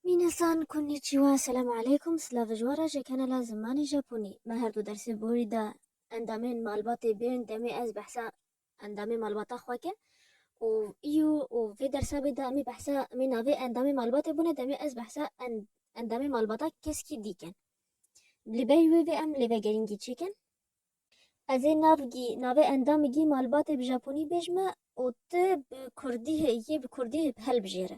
Minasan Konnichiwa Selam Aleykum Slavijwara ji kanala Zimanê Japonî Me her du dersê borî da endamên malbatê bên demê ez behsa endamê malbata xwe ke û îyo û vê dersa bê da me behsa me navê endamê malbatê bûne demê ez behsa endamê malbata keskî dîken li bey wê vê em lê vegerîngî çêkin Ez ê nav gî navê endamê gî malbatê bi japonî bêj me û tu bi kurdî hê yê bi kurdî hê helbijêre.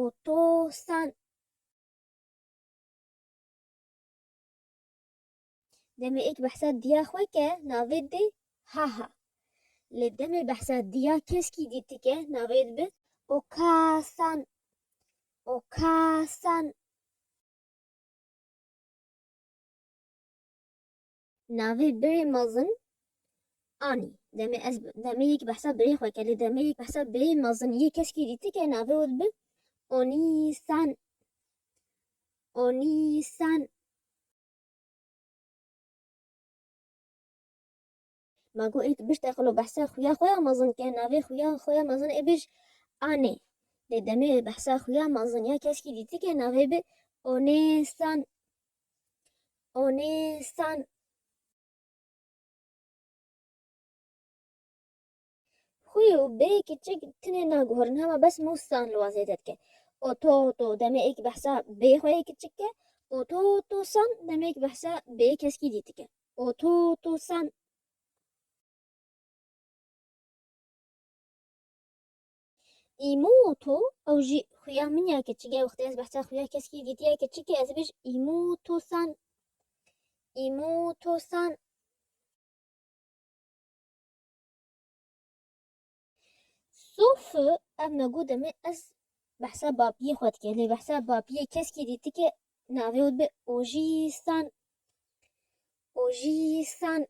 û to sen demê ek behsa diya xwe ke navê dê ha ha. Lê demê behsa diya keskî dî ti ke navê dibi û ka sen û ka sen. Navê birê mezin anî. Demê ez demê yek behsa birê xwe kir lê demê yek behsa birê mezin yê keskî dîtike navê wê dibe Onîsan. Onîsan. Ma got ê tu biş teqilo behsa xuya xwe ya mezin ke navê xuya xwe ya mezin ê bij Anê. Lê demê behsa xuya mezin ya keskî dîtike navê bi Onêsan. Oni san Xwi û bê kiçik tinê naguhorin hema bes mû san li wan zêde dike. O to to demê êk behsa bê xwe yê kiçik ke. O to to san demêk behsa bê keskî dît dike. O to to san Îmo û to, ew jî xuya min ya keçik e, wextê ez behsa xuya keskî dîtiya keçik e ez dibêj îmo û to san, îmo û to san. Sofi, ev me got demê ez behsa bapiyê xwe dike, lê behsa bapiyê keskî dîtike navê û dibe ojî san, ojî san.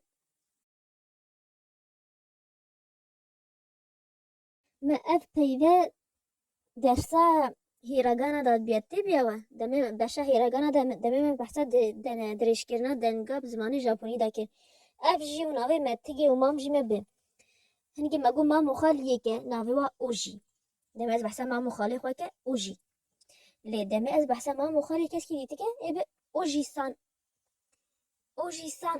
Me ev peyve dersa hîregana dadbiyat tê biya we? Demê beşa hîregana de demê me behsa dirêjkirina denga bi zimanê Japonî de kir. Ev jî û navê me Tigê û mam jî me bi. Hinekî me got mam û xal yek e navê we Ojî. Demê ez behsa mam û xalê xwe ke Ojî. Lê demê ez behsa mam û xalê keskî dî dike ê bi Ojî-san. Ojî-san.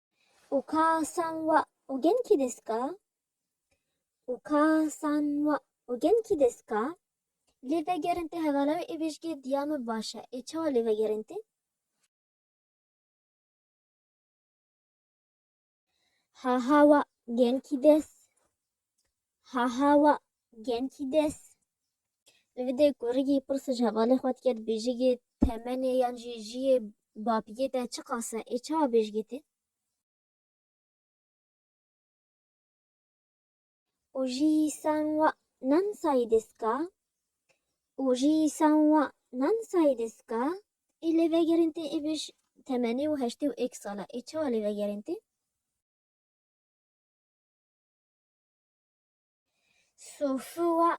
û ka san wa û gen kî dest ka û ka san wa û gen kî dest ka lê vegerin te hevala wê ê bêjgê diya min baş e ê çawa lê vegerin te ha ha wa gen kî dest Ha ha wa genkî des. Li vê dê kurikî pirse ji hevalê xwe dike dibêjigê temenê yan jî jiyê bapiyê te çi qas e? Ê çawa bêjigê tê? Û jî san wa nan sayî diska? Û jî san wa nan sayî diska? Ê lê vegerên tê ê bêj temenê û heştê û êk sal e. Ê çawa lê vegerên tê? Sofuwa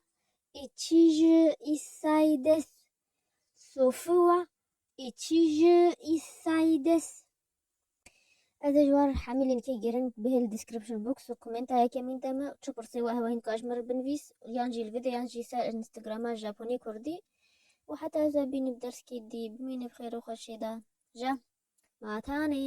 içî ji Îsayî des. Sofuwa içî ji Îsayî des. Ez ê ji wan re hemî lînkê girin bi hêl description box û komenta yekemîn de me û çi pirsê we hewa hîn dikar ji min re binivîs yan jî li vê de yan jî ser Instagrama Japonî Kurdî û heta ez we bînim derskê dî bimîne bi xêr û xweşiyê de ja ma tanê.